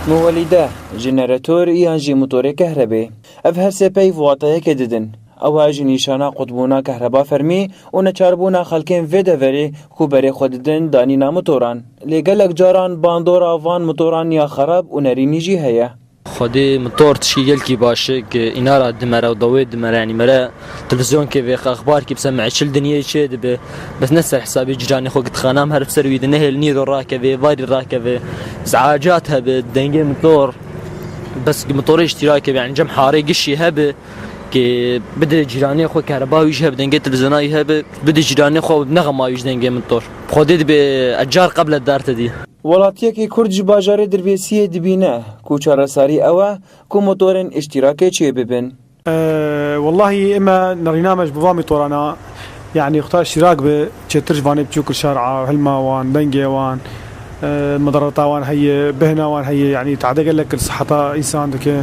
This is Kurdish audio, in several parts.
Muwelîde, jeneretor yan jî motorê kehrebê. Ev her sê peyv wateyekê didin. Ew e jî nîşana qutbûna kehreba fermî û neçarbûna xelkên vê deverê ku berê xwe didin danîna motoran. Lê gelek caran bandora van motoran ya xerab û nerînî jî heye. Xwedê mitor tişkî gelkî baş e ki îna ra dimere û dawê dimere yanî mere televîzyonkê vêxe exbar kî bi ser meçil dinyeyê çê dibe bes ne ser hisabê cîranê xwe ki dixanam her bi ser wî de nehêl nîro rakeve êvarî rakeve izacat hebe dengê mitor bes ki mitorê îştîrake be yanî cem harê gişî hebe ki bide cîranê xwe kereba wî jî hebe dengê televîzyona wî hebe bide cîranê xwe û nexema wî ji dengê mitor bi xwedê dibe ez car qeble derte dî. Welatiyekî Kurd ji bajarê Dirvêsiyê dibîne ku çaresarî ew e ku motorên îştîrakê çêbibin. Wellahî eme nerîname ji bo van mîtoran a yanî xuda îştîrak bi çêtir ji vanê biçûk li şar a hilma wan, dengê wan, medarata wan heye, bêhna wan heye yanî tade gelek li siheta însan dike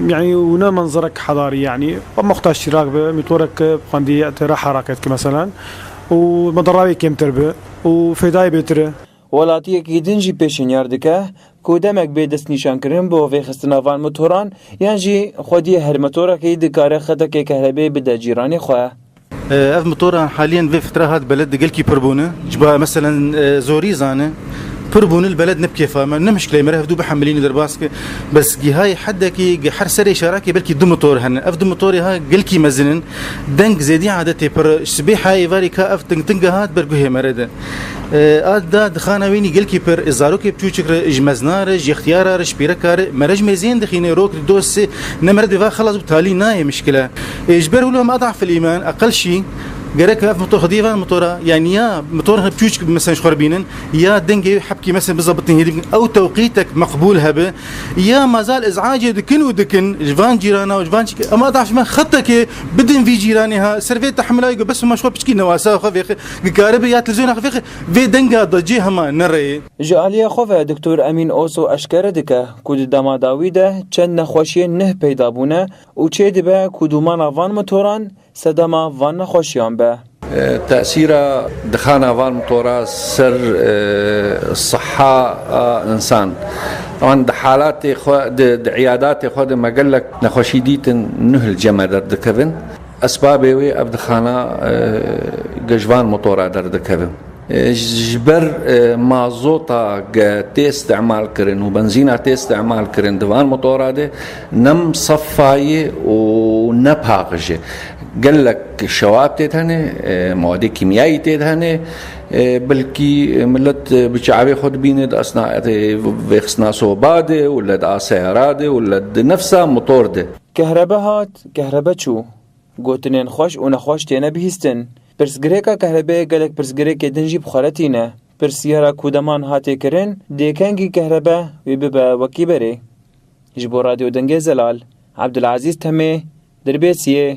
yanî û ne manzerek hedarî yanî eme xuda îştîrak bi mîtorek bi xwendiyê tê re hereket ki meselen û medarayê kêmtir bi û fêdayê bêtir e. Welatiyekî din jî pêşînyar dike ku demek bê destnîşankirin bo vêxistina van motoran yan jî xwediyê her motorekî dikare xetekê kehrebe bide cîranê xwe. Ev motoran halîyan vê fitra hat beled di gelkî pir bûn e. Ji bo meselen zorî zane pir bûn li beled ne bi kêfa me ne muşkile ye me re hevdu bihemilîne derbas ke bes gihayê hedekî ge her serê şarakê belkî du motor hene ev du motorê ha gelkî mezin in deng zêdî adetê pir ji sibê heyê varî ka ev tingtinga hat ber guhê me re de. A da dixana wînî gilkî pir, zarokê piçûçik re, ji mezna re, ji yextiyara re, ji pîreka re, merec mêziyên dixîne, rok li dost ê, ne meret bêva xelas bû talî nayê mişkile. Ê ji ber wilo ma dahf el îman, aqil şî, gerek ev motor xwediyê van motora, yanî ya motor re piçûçik bi mesen ji xwe re bînin, ya dengê wê hepkî mesen bi zebitên hêdî bikin, ew tewqîtek meqbûl hebe, ya mazal iz'acê dikin û dikin ji van cîrana û ji van çi ke, em a dahf ji me xetekê bidin vî cîranê ha, ser vê tehmila yê ku bes ma ji xwe piçikî newasa xwe vêxê. Nikaribe ya Televîzyona xwe fêqe vê denga da cê hema nereyê. Ji aliyê xwe ve Doktor Emîn Oso eşkere dike ku di dema dawî de çend nexweşiyên nuh peyda bûne û çê dibe ku dûmana van mitoran sedema van nexweşiyan be. Tesîra dixana van mitora ser siha a însan an di halatê xwe di di îyadatê xwe de me gelek nexweşî dîtin nuh li cem e derdikevin. Esbabê wê ev dixana ji van motora derdikevin. Ji ber mazota ke tê îstîmalkirin û benzîna tê îstîmalkirin di van motora de nem sefa ye û ne paxij e. Gelek şewab tê de hene, mawadê kîmyayî tê de hene. Belkî milet bi çavê xwe dibîne di esna vêxistina soba de wele di aseya de wele di nefsa motor de. Kehrebe hat, kehrebe çû. Gotinên xweş û nexweş têne bihîstin. Pirsgirêka kehrebeyê gelek pirsgirêkê din jî bi xwe re tîne. Pirsiyara ku deman hatê kirin, dê kengî kehrebe wî bibe wekî berê. Ji bo Radyo Dengê Zelal, Ebdulezîz Temê, Dirbêsiyê.